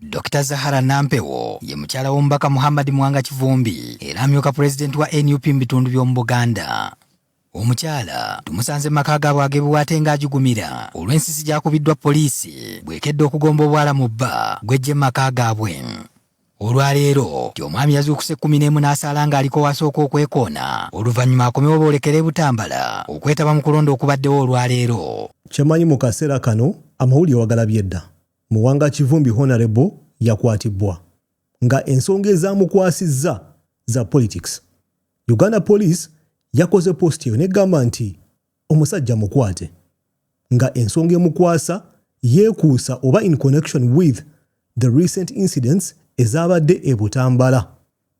Dr Zahara Nampewo ye mukyala w'omubaka Muhammad Mwanga Kivumbi era amyuka pulezidenti wa nup mu bitundu by'omu Buganda. Omukyala tumusanze maka gaabwe agebuwaate ng'agigumira olw'ensisi gyakubiddwa poliisi bwekedde okugomba obwala mu bba gwejje mu maka gaabwe. Olwaleero ti omwami yazuukuse ekkumi n'emu n'asaala ng'aliko wasooka okwekoona oluvannyuma akomewo boolekere Butambala okwetaba mu kulonda okubaddewo olwaleero. Kyemanyi mu kaseera kano amawulire wagalabye dda. Muwanga Kivumbi Honourable yakwatibbwa nga ensonga ezaamukwasizza za politics. Uganda Police yakoze post eyo negamba nti omusajja mukwate nga ensonga emukwasa yeekuusa oba in connection with the recent incidents ezaabadde e Butambala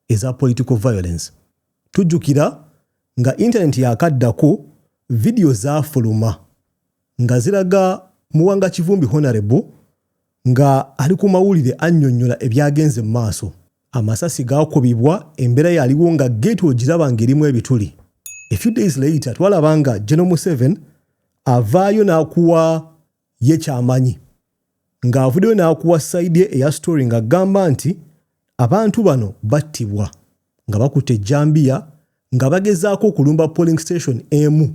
eza political violence. Tujjukira nga internet yakaddako video zaafuluma. nga ziraga Muwanga Kivumbi Honarebo nga ali ku mawulire annyonnyola ebyagenze mu maaso. Amasasi gaakubibwa embeera yaliwo nga geeti ogiraba ng'erimu ebituli. A few days later twalaba nga General Museven avaayo n'akuwa ye kyamanyi ng'avuddeyo n'akuwa sayidi ye eya story ng'agamba nti abantu bano battibwa nga bakutte ejjambiya nga bagezaako okulumba polling station emu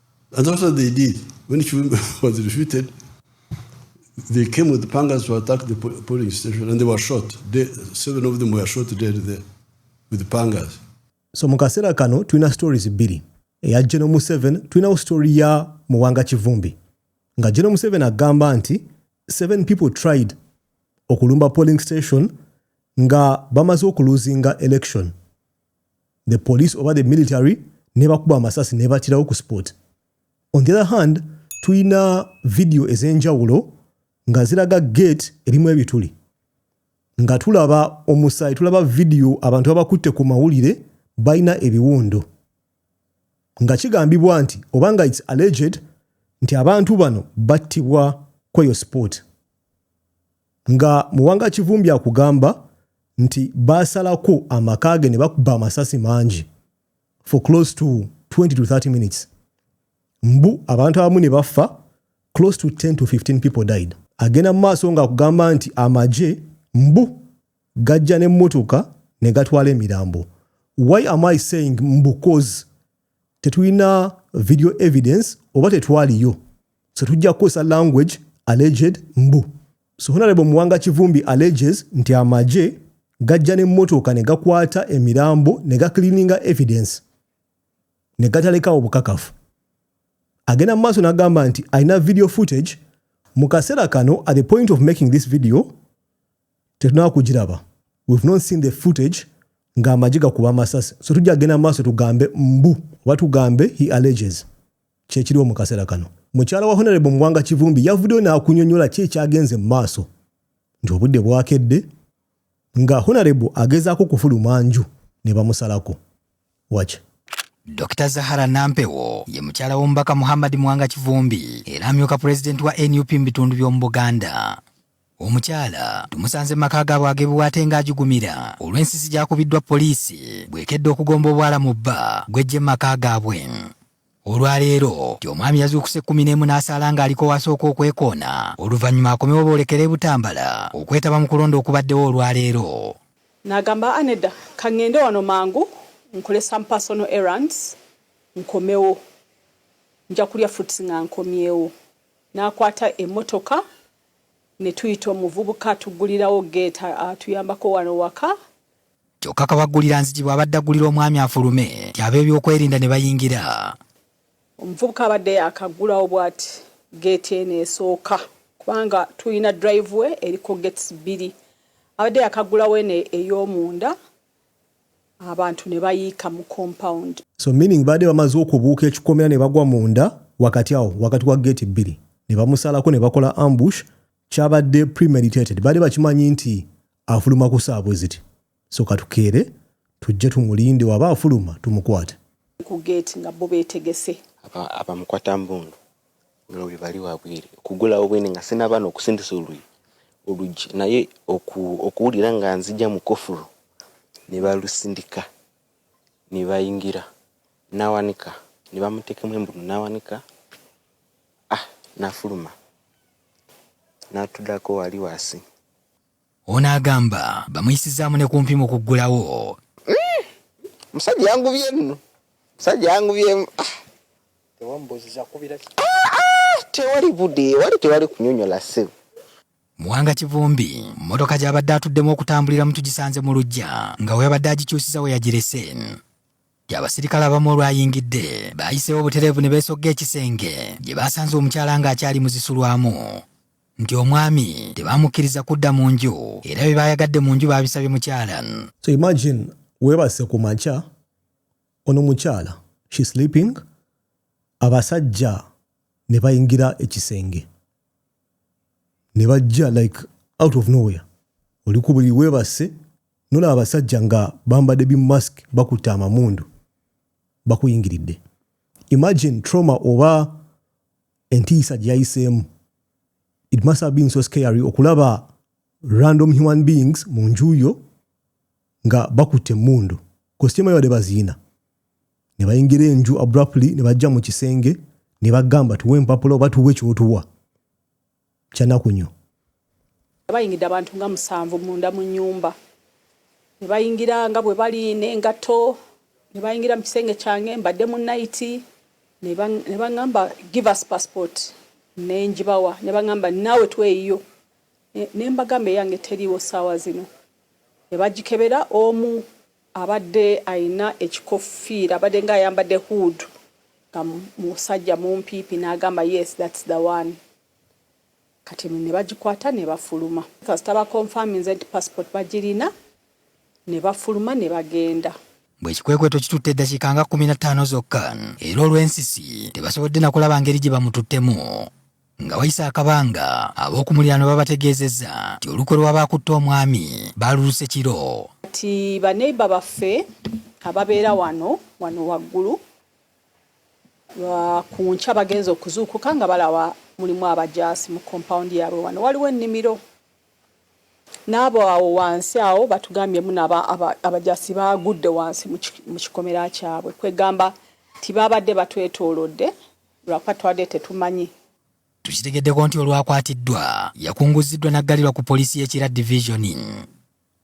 And that's what they did. When Chivimbi was defeated, they came with pangas to attack the po- polling station and they were shot. They, seven of them were shot dead there with pangas. so mu kaseera kano tulina stories bbiri eya geno museven tulinawo story ya muwanga kivumbi nga geno museven agamba nti seven people tried okulumba polling station nga bamaze okuluzinga election the police oba the military nebakuba amasasi nebatirawo ku sport on the other hand tulina vidiyo ez'enjawulo nga ziraga gate erimu ebituli nga tulaba omusaayi tulaba vidiyo abantu babakutte ku mawulire balina ebiwundo nga kigambibwa nti oba nga its alleged nti abantu bano battibwa kweyo sport Nga Muwanga Kivumbi akugamba nti baasalako amaka ge ne bakuba amasasi mangi for close to 20 to 30 minutes. Mbu abantu abamu ne bafa close to 10 to 15 people died. Agenda mu maaso ng'akugamba nti amagye mbu gajja n'emmotoka ne gatwala emirambo. Why am I saying mbu coz tetulina video evidence oba tetwaliyo so tujja kukozesa language alleged mbu so honarebo muwanga kivumbi alleges nti amagye gajja n'emmotoka ne gakwata emirambo ne gaklininga evidence ne gatalekawo bukakafu agenda mu maaso n'agamba nti alina video footage mu kaseera kano at the point of making this video tetunaba kugiraba we've not seen the footage nga amagye gakuba amasasi so tujja kugenda mu maaso tugambe mbu oba tugambe he alleges kyekiriwo mu kaseera kano mukyala wa honorable muwanga kivumbi yavuddeyo n'akunyonyola ki ekyagenze mu maaso nti obudde bwakedde nga honorable agezaako okufuluma nju ne bamusalako Watch. Dr Zahara Nampewo ye mukyala w'omubaka Muhammad Mwanga Kivumbi era amyuka pulezidenti wa nup mu bitundu by'omu Buganda. Omukyala tumusanze mu maka gaabwe ag'ebiwaate ng'agigumira olw'ensisi gy'akubiddwa poliisi bw'ekedde okugomba obwala mu bba gw'eggye mu maka gaabwe. olwaleero nti omwami yazuukuse kkumi n'emu n'asaala ng'aliko wasooka okwekoona oluvannyuma akomewo boolekera e Butambala okwetaba mu kulonda okubaddewo olwaleero. Nagamba a nedda kangende wano mangu nkole some personal errands nkomewo nja kulya fruits nga nkomyewo nakwata emotoka netuyita omuvubuka tugulirawo gate atuyambako wano waka kyokka kabaggulira nzigi bw'abadde aggulira omwami afulume nti ab'ebyokwerinda ne bayingira omuvubuka abadde akaggulawo bw'ati geeti eno esooka kubanga tulina driveway eriko gates bbiri abadde yakaggulawo eno ey'omunda abantu ne bayiika mu compound so meaning baadde bamaze okubuuka ekikomera ne bagwa munda wakati awo wakati wa geeti bbiri ne bamusalako ne bakola ambush kyabadde premeditated baali bakimanyi nti afuluma ku saa bwe ziti so katukeere tujje tumulinde waba afuluma tumukwate ku geeti nga bo beetegese abamukwata mbundu nga buli bali wabwere okugulawo bwene nga sinabaana okusindisa oluyi oluggi naye okuwulira nga nzija mu kofulu ne balusindika ne bayingira nawanika nebamutekemu embunu nawanika ah nafuluma natudako wali wasi ono agamba bamuyisizaamu ne kumpi mu kuggulawo hmm, musajja yangubye nno musajja yangubyemu ah. ah, ah, tewali budde wali tewali kunyonyola sebo muwanga kivumbi mmotoka gy'abadde atuddemu okutambulira mu tugisanze mu lujja nga weyabadde agikyusiza we yagirese Abasirikale abamu olwayingidde baayiseewo obutereevu ne beesogga ekisenge gye baasanze omukyala ng'akyali muzisulwamu nti omwami tebaamukkiriza kudda mu nju era bye baayagadde mu nju baabisabye mukyala so imagine weebase ku makya ono mukyala she sleeping abasajja ne bayingira ekisenge ne bajja like out of nowhere oli ku buli weebase Nolaba abasajja nga bambadde bi mask bakutte amamundu bakuyingiridde. Imagine trauma oba entiisa gye yayiseemu. It must have been so scary okulaba random human beings mu nju yo nga bakutte emmundu kositiima yabadde baziina ne bayingira enju abruptly ne bajja mu kisenge ne bagamba tuwe empapula oba tuwe kyotuwa kyanakunyo. Bayingidde abantu nga musanvu munda mu nyumba nebayingira nga bwe bali n'engatto nebayingira mu kisenge kyange mbadde mu nayiti nebaŋamba give us passport nenjibawa nebaŋamba naawe tweyiyo nembagamba eyange teriiwo saawa zino nebagikebera omu Abadde alina ekikoffiira, abadenga ayambadde hood nga musajja mumpiipi nagamba yes that's the one kati nebagikwata nebafuluma kasita ba confirminze nti passport bagirina nebafuluma nebagenda. Bwe kikwekweto kitutte eddakiika nga kkumi na ttaano zokka era olw'ensisi tebasobodde nakulaba ngeri gye bamututtemu. Nga wayise akabanga, ab'oku muliraano babategeezezza nti olukwe lw'abaakutte omwami baaluluse kiro. Kati baneiba baffe ababeera wano wano waggulu ku nkya bagenze okuzuukuka nga balaba mulimu abajaasi mu kompawundi yaabwe. Wano waliwo ennimiro n'abo awo wansi awo batugambye muna abajaasi baagudde wansi mu kikomera kyabwe kwegamba nti baabadde batwetoolodde. lwakuba twadde tetumanyi. Tukitegeddeko nti olwakwatiddwa yakunguziddwa n'aggalirwa ku poliisi y'e Kira Division.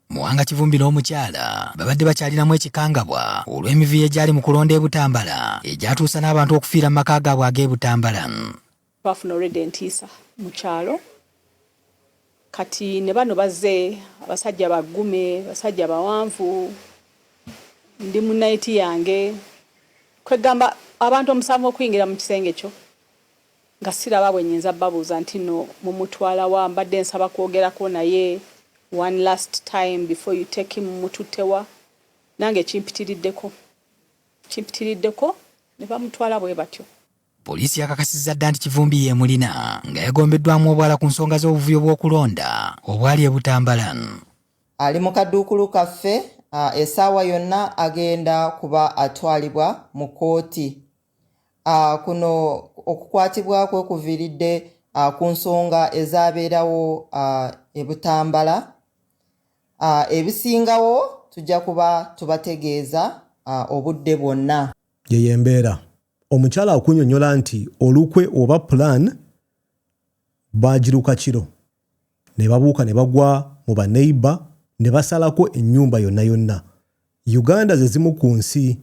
Muwanga Kivumbi n'omukyala babadde bakyalinamu ekikangabwa olw'emivuyo egyali mu kulonda e Butambala egyatuusa n'abantu okufiira mu maka gaabwe ag'e Butambala. Twafuna olwedda entiisa mu kyalo. Kati ne bano bazze abasajja baggume, basajja bawanvu, ndi mu nayiti yange, kwegamba abantu omusanvu okuyingira mu kisenge kyo nga siraba bwe nyinza babuuza nti no mumutwala wa mbadde nsaba kwogerako naye one last time before you take him mututtewa nange kimpitiriddeko kimpitiriddeko ne bamutwala bwe batyo. Poliisi yakakasizza dda nti Kivumbi yeemulina nga yagombeddwamu obwala ku nsonga z'obuvuyo bw'okulonda obwali e Butambala. Ali mu kaduukulu kaffe esaawa yonna agenda kuba atwalibwa mu kkooti. Kuno okukwatibwa kwe kuviiridde ku nsonga ezaabeerawo e Butambala. Ebisingawo tujja kuba tubategeeza obudde bwonna. Yeyo embeera omukyala akunyonyola nti olukwe oba plan baagiruka kiro ne babuuka ne bagwa mu baneiba ne basalako ennyumba yonna yonna. Uganda ze zimu ku nsi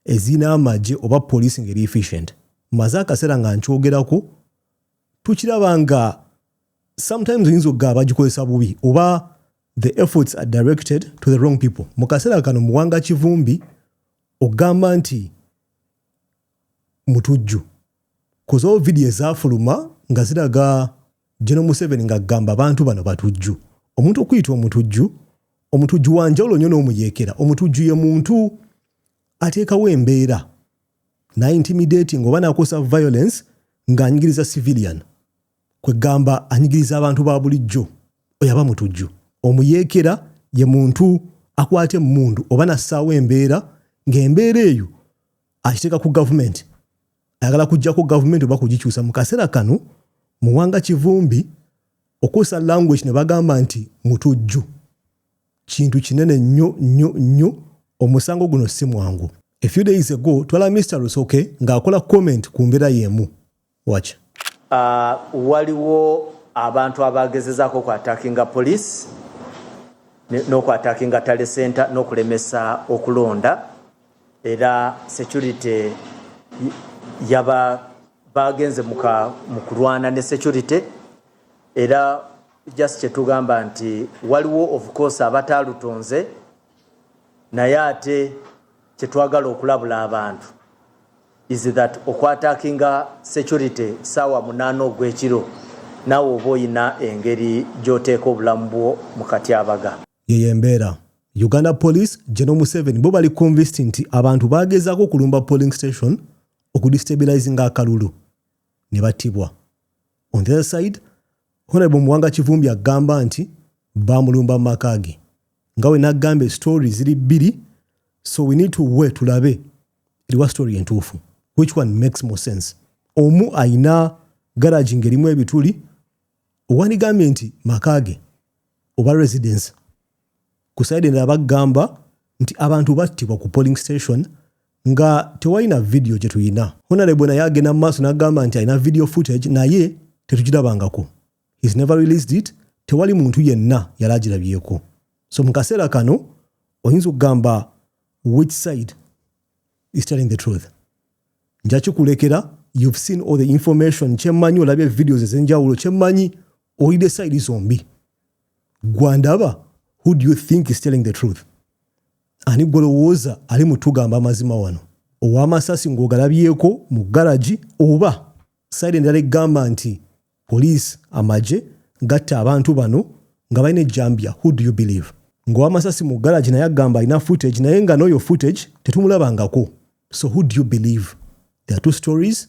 ezirina amagye oba poliisi ng'eri efficient. Mmaze akaseera nga nkyogerako, tukiraba nga sometimes oyinza okugamba bagikozesa bubi oba the efforts are directed to the wrong people. Mu kaseera kano Muwanga Kivumbi ogamba nti mutujju koz all video ezafuluma nga ziraga General Museveni nga gamba abantu bano batujju omuntu okuyita omutujju omutujju wanjawulo nyo n'omuyekera omutujju ye muntu ateekawo embeera na intimidating oba nakosa violence ng'anyigiriza civilian kweggamba anyigiriza abantu ba bulijjo oyo aba mutujju omuyeekera ye muntu akwata emmundu oba nassaawo embeera ng'embeera eyo akiteeka ku gavumenti ayagala kujjako gavumenti oba kugikyusa mu kaseera kano muwanga kivumbi okuusa language ne bagamba nti mutujju kintu kinene nnyo nnyo nnyo omusango guno si mwangu a few days ago twala mr rusoke ng'akola comment ku mbeera y'emu Watch. Waliwo abantu abaagezezaako oku attackinga police n'oku attackinga Tally Centre n'okulemesa okulonda era security yaba baagenze mu kulwana ne security era just kye tugamba nti waliwo of course abataalutonze naye ate kyetwagala okulabula abantu is that okwatakinga security saawa munaana ogwekiro naawe oba olina engeri gyoteeka obulamu bwo mu katyabaga yeyo embeera uganda police geno museven bo bali convist nti abantu bagezaako okulumba polling station okudistabilizinga akalulu ne battibwa on the other side Honorable Muwanga Kivumbi agamba nti baamulumba mu maka ge nga we n'agamba esitoori ziri bbiri so we need to we tulabe eriwa sitoori entuufu which one makes more sense omu ayina garagi ng'erimu ebituli owandigambye nti maka ge oba residence ku side endala bagamba nti abantu battibwa ku polling station nga tewalina vidiyo gye tulina honalebo naye agenda mu maaso n'agamba nti alina vidiyo footage naye tetukirabangako his never released it tewali muntu yenna yali agirabyeko so mu kaseera kano oyinza okugamba which side is telling the truth nja kikulekera you've seen all the information kyemmanyi olabye videos ezenjawulo kyemmanyi oyide side zombi gwandaba who do you think is telling the truth ani gwolowooza ali mutugamba amazima wano owamasasi ng'ogalabyeko mu garagi oba sayidi endala egamba nti poliisi amagye gatta abantu bano nga balina ejjambya who do you believe ng'owamasasi mu garagi naye agamba alina footage naye nga n'oyo footage tetumulabangako so who do you believe there are two stories